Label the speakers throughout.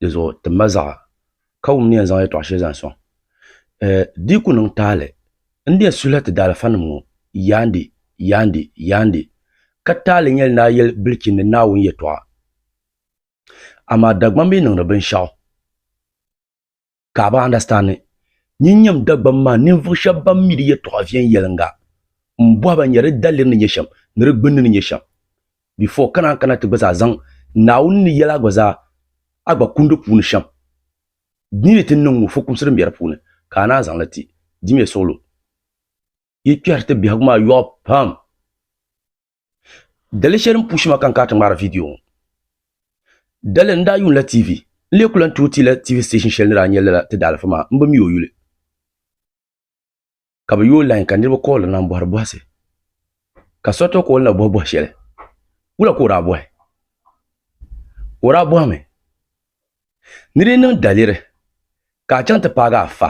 Speaker 1: dizuɣu ti ma zaɣa ka wum ni yɛn zaŋ yɛltɔɣa shɛli zaŋ sɔŋ diiku niŋ taali n ni yɛn suhila ti daalifa nim ŋɔ yaandi yaandi yaandi ka taali n yɛli ni a yɛli bilichini ni Naawuni yɛltɔɣa amaa Dagbamba yi niŋdi binshɛɣu ka a bi andastandi. Nyin nyam Dagbam maa ninvuɣ shɛb bɛn mi di yɛtɔɣa viɛnyɛliŋga. M bɔhi ba, nyari di daliri ni nyɛ shɛm, ni di gbinni ni nyɛ shɛm? Before ka naan kana ti gba zaa zaŋ Naawuni ni yɛla gba zaa a gba kundi puuni shɛm. Di ni ti niŋ ŋɔ fukumsi din be di puuni ka a naan zaŋ li ti. Dimiya suɣulo yi kpɛhiri ti biɛhigu maa yɔɣu pam. Dali shɛli n pushi ma ka n kana ti ŋmaari viidiyo ŋɔ. Dali n daa yuunila TV. N lee ku lan tuhi ti la TV station shɛli ni daa nyɛ lala ti daalifa maa, m bi mi o yuli. Ka bɛ yooi lain ka niriba kooli n na m-bɔhiri bɔhisi. Ka so ti kooli na bɔhi bɔhi shɛli. Wula ka o daa bɔhi? O daa bɔhimi ni di niŋ daliri ka a chaŋ ti paagi a fa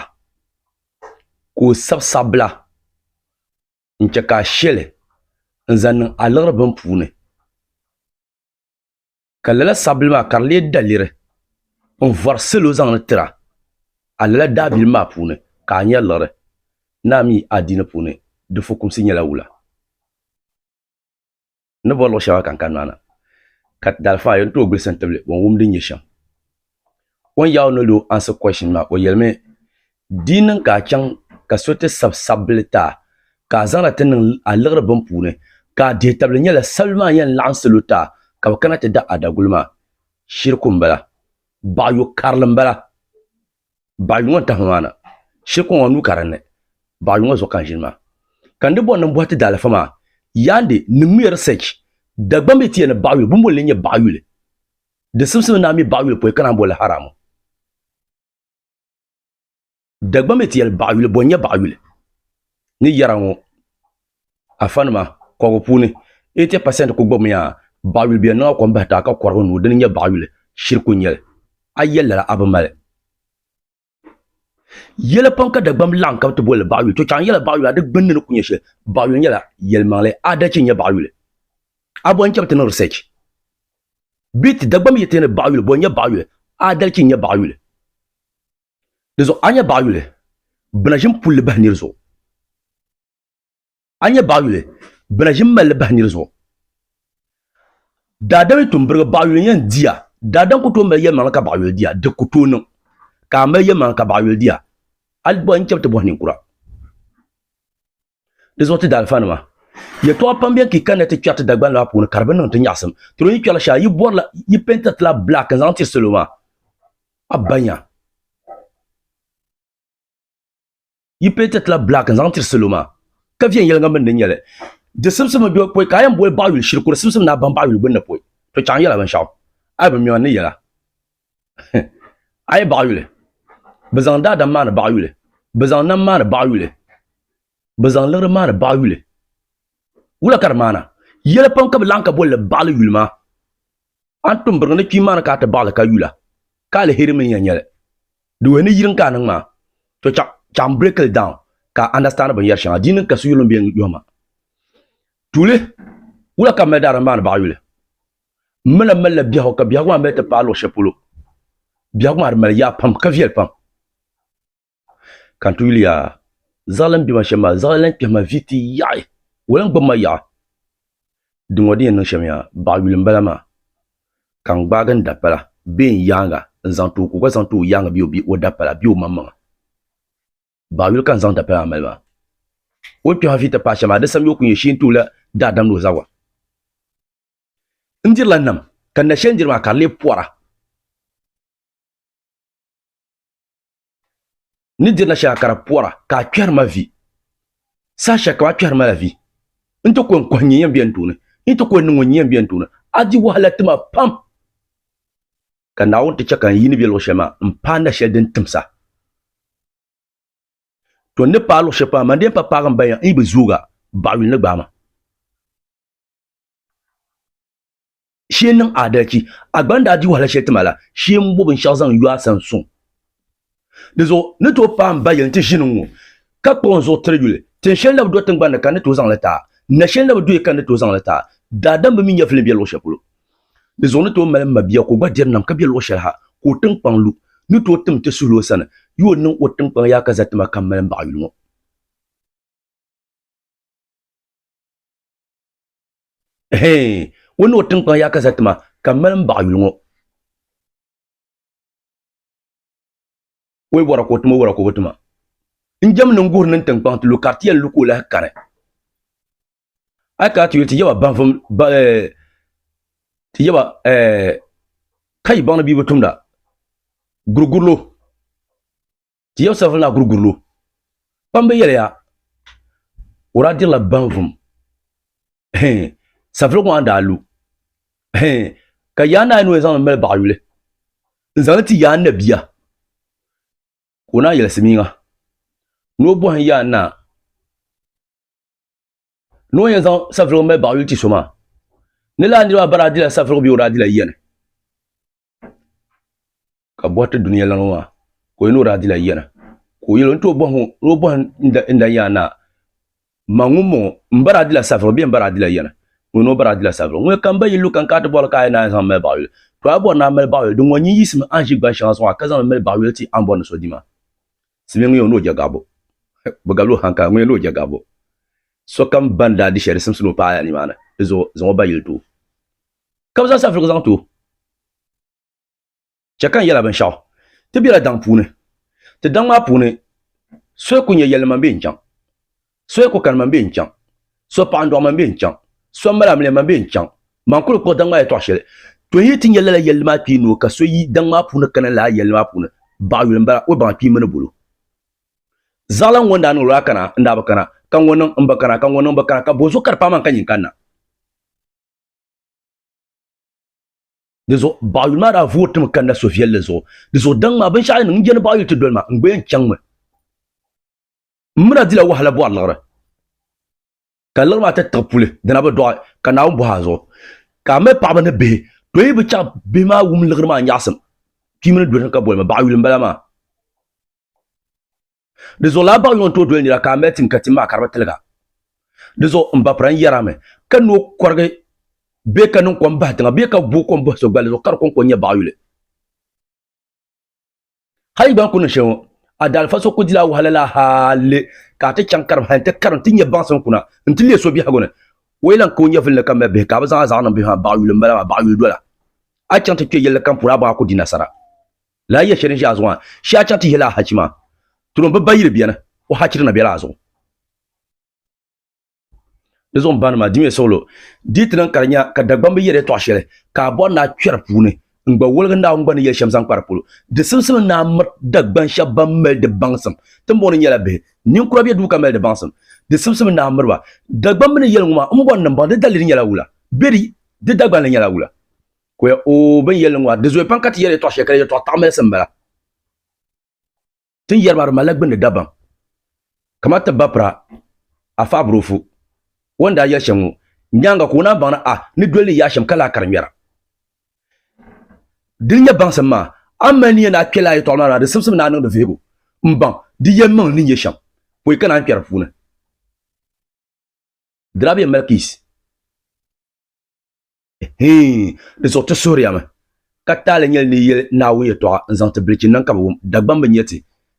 Speaker 1: ka o sabi sabbila. n chɛ ka a she li n-zaŋ niŋ a liɣiri bini puuni, ka lala sabbili maa ka di leei daliri n-vɔri salo zaŋ li tiri a, a lala daabilim maa puuni ka a nya liɣiri. Naa mi, adiini puuni di fukumsi nyɛla wula? ni bɔri luɣ shɛŋa ka n kani maa na, ka daalifaɣa yɛn tooi gbilisi n-tibili o ni wum din nyɛ shɛm. O ni yaai o noli o answer question maa o yɛlimi, Di yi niŋ ka a chaŋ ka so ti sabi sabbili ti a ka a zaŋli ti niŋ a liɣiri bini puuni ka a dihitabili nyɛla sabbili maa yɛn laɣim salo ti a ka bɛ kana ti da a daguli maa, shiriku m-bala, baɣiyo karili m-bala. baɣili ŋɔ n-tahi ma maa na, shiri kɔŋɔ nuu ka dinni, baɣili ŋɔ zuɣu ka n ʒini maa. Ka n di bɔri ni m bɔhi ti daalifa maa, Yaande, niŋmiya research, Dagbamb yi ti yɛli ni baɣiyuli, bɛ ni boli li n-nyɛ baɣiyuli. Di simsim ni naa mi baɣiyuli pɔi ka naan boli li haramu. Dagbamb yi ti yɛli baɣiyuli, bɔ n-nyɛ baɣiyuli? Ni yɛra ŋɔ, afanima kɔbigu puuni, 80 pasent ku gbibimiya baɣiyuli bɛ niŋa kom bahi taai ka kɔrigi n-nuui dini n-nyɛ baɣiyuli, shiri ku nyɛli. A yɛli lala a bi mali. Yɛla pam ka Dagbamb laɣim ka bɛ ti boli li baɣiyuli, to chaŋ yɛla baɣiyuli a di gbunni ni ku nyɛ shɛli. Baɣiyuli nyɛla yɛlimaŋli, aadalichi n-nyɛ baɣiyuli. A bɔhi n-chabi ti niŋ research bee ti Dagbamb yɛtɔya ni baɣiyuli boli n-nyɛ baɣiyuli, aadalichi n-nyɛ baɣiyuli. Dinzuɣu a nya baɣiyuli, bina ʒim pulli bahi niri zuɣu. a nyɛ baɣayuli bɛ na ʒi malli bahi nir zuɣu. Daadam yi tum birigi baɣayuli n yɛn diya, daadam ku tooi mali yɛlimaŋli ka baɣayuli diya, di ku tooi niŋ ka a mali yɛlimaŋli ka baɣayuli diya. A yi bɔhi n chabi ti bɔhi ninkura. Di zuɣu ti daalifanima, yɛtɔɣa pam beni ka yi kanna ti kpɛri ti Dagbani lɔɣu puuni ka di bi niŋ ti nyaɣisim. Ti ni yi kpɛrila shɛli, yi bɔrila, yi pɛɛntiri ti la black n-zaŋ tiri salo maa. A banya. yi penti tila black n zaŋ tiri salo maa ka viɛnyɛliŋga mini di nyɛli di simsimi do pɔi ka a yɛn boli baɣayuli shiri kuri simsim ni a baŋ baɣayuli gbunni pɔi to chaŋ yɛla binshɛɣu a yi bi mi a ni yɛla a yi baɣayuli bi zaŋ daadam maa ni baɣayuli bi zaŋ nam maa ni baɣayuli bi zaŋ liɣiri maa ni baɣayuli wula ka di maana yɛli pam ka bi laɣim ka bolili baɣali yuli maa A ni tum biriŋ ni kpiimba ni ka a ti baɣili ka yula, ka aliheri mini ya nyɛli. Di wuhi ni yirim ka a niŋ maa. To chaɣ chaɣim break li down ka a understand binyɛri shɛŋa. Di yi niŋ ka so yuli m-be n yɔhi ma, Tuuli, wula ka m mali daadam m-maani baɣa yuli? M mi lan malila biɛhigu ka biɛhigu maa mi ti paai luɣ shɛli polo. Biɛhigu maa di mali yaa pam ka viɛli pam. ka n ti yuli yaa zaɣili n bɛ ma shɛm maa zaɣili lan kpɛhi ma vi ti yaɣi o lan gbubi ma yaɣa dinŋɔ din yɛn niŋ shɛm yaa baɣa yuli m bala maa ka n gbaagi n dapala bee n yaaŋa n zaŋ ti o ka o gba zaŋ ti o yaaŋa bee o dapala bee o maŋmaŋa baɣa yuli ka n zaŋ dapala maa mali maa o ni kpɛhi ma vi ti paai shɛm maa di sani o ku nyɛ shee n ti o la daadam ni o zabiri n dirila nam ka n na shɛli n diri maa ka di lee pɔra ni dirila shɛŋa ka di pɔra ka a kpɛri ma vi. Saha shɛli kam a kpɛri ma la vi, n ti kɔŋ kɔhi n nyɛ yɛnbia n tooni, n ti kɔŋ niŋ o n nyɛ yɛnbia n tooni. A di wahala ti ma pam, ka Naawuni ti chɛ ka n yi ni be luɣ shɛli maa, m paai na shɛli din timsa. To n ni paai luɣ shɛli pam maa, man di yɛn pa paagi m baya n yi bi zoogi a, baɣa yuli ni gbaai ma. shee n niŋ adalci a gba ni daa di wahala shɛli ti ma la shee n bo binshɛɣu zaŋ yo a sani suŋ dizuɣu ni tooi paai n ba yɛli nti ʒini ŋ-ŋɔ ka kpuɣi n zuɣu tiri yuli tin shɛli na bi do tiŋgbani ni ka n ni tooi zaŋ li taai na shɛli na bi doya ka n ni tooi zaŋ li taai daadam bi mi nya vilim be luɣ shɛli polo dizuɣu ni tooi mali m ma bia ka o gba diri nam ka be luɣ shɛli ha ka o tiŋkpaŋ lu ni tooi tim ti suhil o sani yo o niŋ o tiŋkpaŋ yaa ka za ti ma ka m mali m baɣa yuli ŋɔ. Hee, ŋun ni o tiŋkpaŋ yaa ka za tima, ka mali m baɣa yuli ŋɔ. O yi bɔra ka o tima, o bɔra ka o bi tima. N jɛm ni n guhiri ni n tiŋkpaŋ ti lu ka di ti yɛn lu ka o lahi kani. A yi kana ti yuli ti yaba baŋvum eh, ti yaba eh, ka yi baŋ ni bia bi tumda gurigurilo. ti yɛbu sarafin laa kuli guri lo. Kpamba yɛliya, o daa dirila banvum. Hee, safili ŋɔ a ni daa lu. Hee, ka yaa naai ni o yɛn zaŋ li mali baɣa yuli n-zaŋ li ti yaa n na bia. Ka o naa yɛli Simiŋa ni o bɔhim yaa naa. ni o yɛn zaŋ safirigu mali baɣa yuli ti so maa ni laa niriba bara adila safirigu bɛ o daa dila yiya ni ka bɔhiri ti dunia lana maa ka o yɛn ni o daa dila yiya ni ka o yɛli o ni tooi bɔhi ni o bɔhi n dan yaa naa ma ŋun bɔŋɔ n bara adila safirigu bee n bara adila yiya ni ŋun ni o bara adila safirigu ŋun kam ba yi lu kan ka ti bɔhiri ka a yɛn naa zaŋ mali baɣa yuli to a bɔri naa mali baɣa yuli din ŋɔ nyin yiɣisimi a ni ʒi gban shɛŋa zuɣu a ka zaŋ li mali baɣa yuli ti a ni bɔri ni so di maa Simi ŋun yɛn ni o je gaɣibu? Bɛ gabila o hanka, ŋun yɛn ni o je gaɣibu? Sokam bɛn daa di shɛli di simsila o paɣaya nimaani, di zuɣu zaŋ o ba yili ti o. Ka bɛ zaŋ safirigu zaŋ ti o. Chɛ ka n yɛl a binshɛɣu, Ti bela daŋ puuni. Ti daŋ maa puuni soya kul nyɛ yɛlli man bee n-chaŋ. So yi ku kani man bee n-chaŋ. So paɣa n-dɔɣi man bee n-chaŋ. So m-mali amiliya man bee n-chaŋ. Man kuli kpuɣi daŋ maa yɛtɔɣ shɛli. Tɔ yi yi ti nya lala yɛlli maa kpee noo ka so yi daŋ maa puuni kana lala yɛlli maa puuni, baɣa yuli m-bala, o baŋ kpee mini bolo. Zaɣila ŋ-ŋɔ n-daa niŋ lala kana, n-daa bi kana, ka ŋ-ŋɔ niŋ, m-bi kana, ka ŋ-ŋɔ niŋ, m-bi kana, ka bɔzuɣu ka di paai man ka nyin kanna. Di zuɣu baɣa yuli maa daa voori ti mi kanna so viɛlli zuɣu. Di zuɣu daŋ maa binshɛɣu yi niŋ, n je ni baɣa yuli ti doli ma, n-gba yɛn chaŋmi. Muna dila wahala bɔri liɣiri, ka liɣiri maa ti tiɣi puli, dina bi dɔɣi, ka Naawuni bɔhi a zuɣu. Ka a mali paɣaba ni bihi, tɔ yi bi chaŋ bihi maa wum liɣiri maa nyaɣisim, kpiimba ni doli ni ka bolimi, baɣiyuli m-bala maa. Di zuɣu lala baɣiyuli ŋɔ ni tooi doli nira ka a mali tim ka tim maa ka di bi tiliga. Di zuɣu m ba pira n-yɛri a mi, Ka ni o kɔrigi bee ka niŋ kom bahi tiŋa bee ka booi kom bahi so gballi zuɣu ka di kɔŋko n-nyɛ baɣiyuli. Hal yi gba ni ku niŋ shɛli ŋɔ, a daalifa so ku dila wahala la hali ka a ti chaŋ karim hal n-ti karim ti nya baŋsim kuna n-ti leei so biɛhigu ni. O yi lan ka o nyɛvili ni ka mali bihi ka a bi zaŋ a zaɣa niŋ bihi maa, baɣiyuli m-bala maa, baɣiyuli dola. A yi chaŋ ti kpe yɛlli kam puuni a baŋ a ku di nasara. Lala yɛli shɛli n-ʒe a zuɣu maa, shee a chaŋ ti yihila a hachi maa, tiri o m-bi ba yili beni, o hachirina bela a zuɣu. di zuɣu n bani maa dimiya suɣulo di ti niŋ ka di nya ka Dagbamb bi yɛl yɛtɔɣ shɛli ka a bɔri ni a kpɛri puuni n gba woligi Naawuni gba ni yɛli shɛm zaŋ kpa di polo. Di simsim n ni a miri Dagban shɛb ban mali di baŋsim timbɔŋ ni nyɛla bihi. Ninkura be duu ka mali di baŋsim. Di simsim n ni a miri ba. Dagbamb ni yɛli ŋɔ maa, m bɔri ni m baŋ di daliri nyɛla wula? Be di, di dagbanli nyɛla wula? Koya, Oo, bɛ ni yɛli li ŋɔ maa, di zooi pam ka ti yɛli yɛtɔɣ shɛli ka di yɛtɔɣ taɣimilisi m-bala. Tin yɛri maa di malila gbunni dabam kamani ti bapira Afaa Burofu o ni daa yɛli shɛm ŋɔ nyaaŋa ka o naan baŋ ni a ni doli ni yaashɛm ka lahi kari ŋmɛra. Di ni nyɛ baŋsim maa, a ni mali niya ni a kpɛla a yɛtɔɣa maa na di simsim ni a niŋdi vihigu m-baŋ di yɛlimaŋli ni nyɛ shɛm pɔi ka naan kpɛri di puuni. Dirabiya Malkis. Hii, di zuɣu ti suhiriya mi, ka taali nyɛli ni yi yɛli Naawuni yɛtɔɣa n-zaŋ ti bilichi niŋ ka bɛ wum, Dagbaŋ bi nya ti,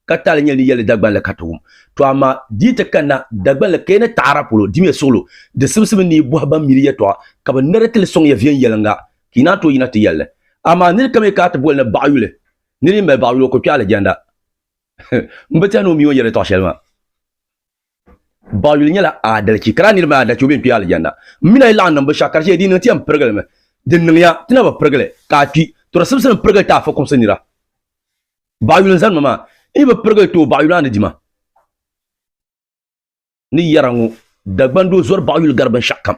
Speaker 1: ka taali nyɛli ni yi yɛli Dagbaŋ la ka ti wum. Tɔ amaa di yi ti kanna Dagbaŋ la ka yi ni taɣira polo, dimiya suɣilo, di simsibu ni yi bɔhi ban mi di yɛtɔɣa ka bɛ niri ti li sɔŋ ya viɛnyɛliŋga, ka yi naan tooi yina ti yɛli li. Amaa nir kam yi ka a ti boli ni baɣ yuli, nir yi mali baɣ yuli o ku kpe alijanna. M bi tehi ni o mi o ni yɛri yɛtɔɣ shɛli maa. Baɣiyuli nyɛla aadalichi, ka lala niriba maa daa chɛ o bee n-kpi Alijanna. M mini a yi laɣim niŋ binshɛɣu ka di chɛ di yi niŋ ti yɛn pirigili mi. Di niŋ ya ti na bi pirigi li, ka a kpi. Tɔrisibisi ni pirigili ti a fukumsi nira. Baɣiyuli n-zani ma maa, n yi bi pirigili ti o, baɣiyuli maa ni di ma. Ni yɛra ŋɔ, Dagbani doo zɔri baɣiyuli gari binshɛɣu kam.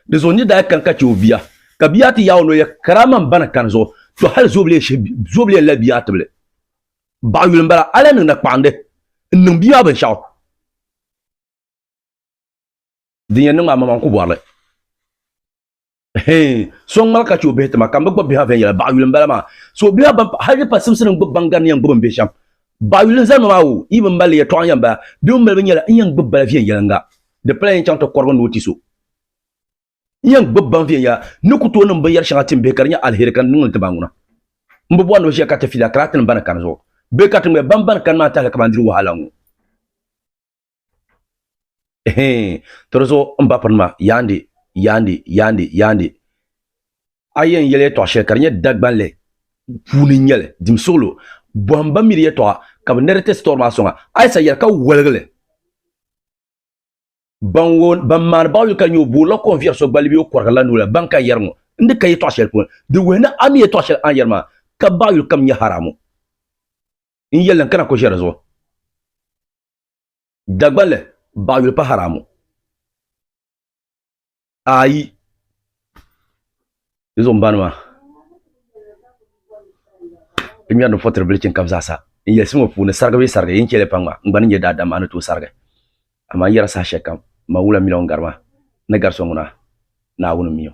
Speaker 1: Di zuɣu n ni daa kani ka chɛ o bia, ka bia ti yaai o noli yɛli, Karaama m ba ni kani zuɣu, tɔ hali zoobiliya n-lahi bia tibili. Baɣa yuli m-bala, a lahi niŋ nakpaɣindi n-niŋ bia maa binshɛɣu. Din yɛn niŋ maa, maŋmaŋ ku bɔri li. Hee, so n-ŋmari ka chɛ o bihi ti ma, ka m bi gbubi bihi maa viɛnyɛla, baɣa yuli m-bala maa. So o bihi maa ban hal di pa simsini n-gbubi baŋ gari ni yɛn gbubi m bihi shɛm. Baɣa yuli n zali ma maa o, yi bi mali li yɛtɔɣa n-yɛn bala, bɛ mi mali bi nyɛla n yɛn gbubi bala viɛnyɛliŋga. Di pala yɛn chaŋ ti kɔrigi ni o ti so. N yɛn gbib baŋ viɛnyɛla ni ku tooi niŋ binyɛr shɛŋa tim bihi ka di nyɛ aliheri ka n niŋ li ti ba ŋuna. M bi bɔri ni bɛ ʒiya ka ti fila kara tinim bɛn kani zuɣu bee ka ti ŋmɛ bɛn bɛn kani maa tahili ka ban diri wahala ŋɔ. Ɛhɛɛn, ti di zuɣu m bapirinima, Yaande, Yaande, Yaande, Yaande, a yɛn yɛli yɛtɔɣ shɛli ka di nyɛ Dagbanli puuni n-nyɛ li, dim suɣilo, bɔhim bɛn mi di yɛtɔɣa ka bɛ ni di ti sitɔri maa sɔŋa, Ayisa yɛli ka woligi li. ban wo ban maani baɣa yuli ka nyɛ o buɣu la ko n viɛri so gbalibi o kɔrigi la nula ban ka yɛri ŋɔ n di ka yi tɔɣa shɛli puuni di wuhi ni a mi yi tɔɣa shɛli a ni yɛri maa ka baɣa yuli kam nyɛ haramu n yɛli n kana ko ʒɛ di zuɣu dagbanli baɣa yuli pa haramu Ayi di zuɣu n bani maa bi ŋmɛri ni fɔtiri bili chini kam zaa sa n yɛlisiri ŋɔ puuni sarigi bee sarigi yini chɛli pam ŋɔ n gba ni nyɛ daadam maa ni tooi sarigi amaa n yɛra saha shɛli kam n maŋ wula miliɔn gari maa ni gari so ŋuna Naawuni mii o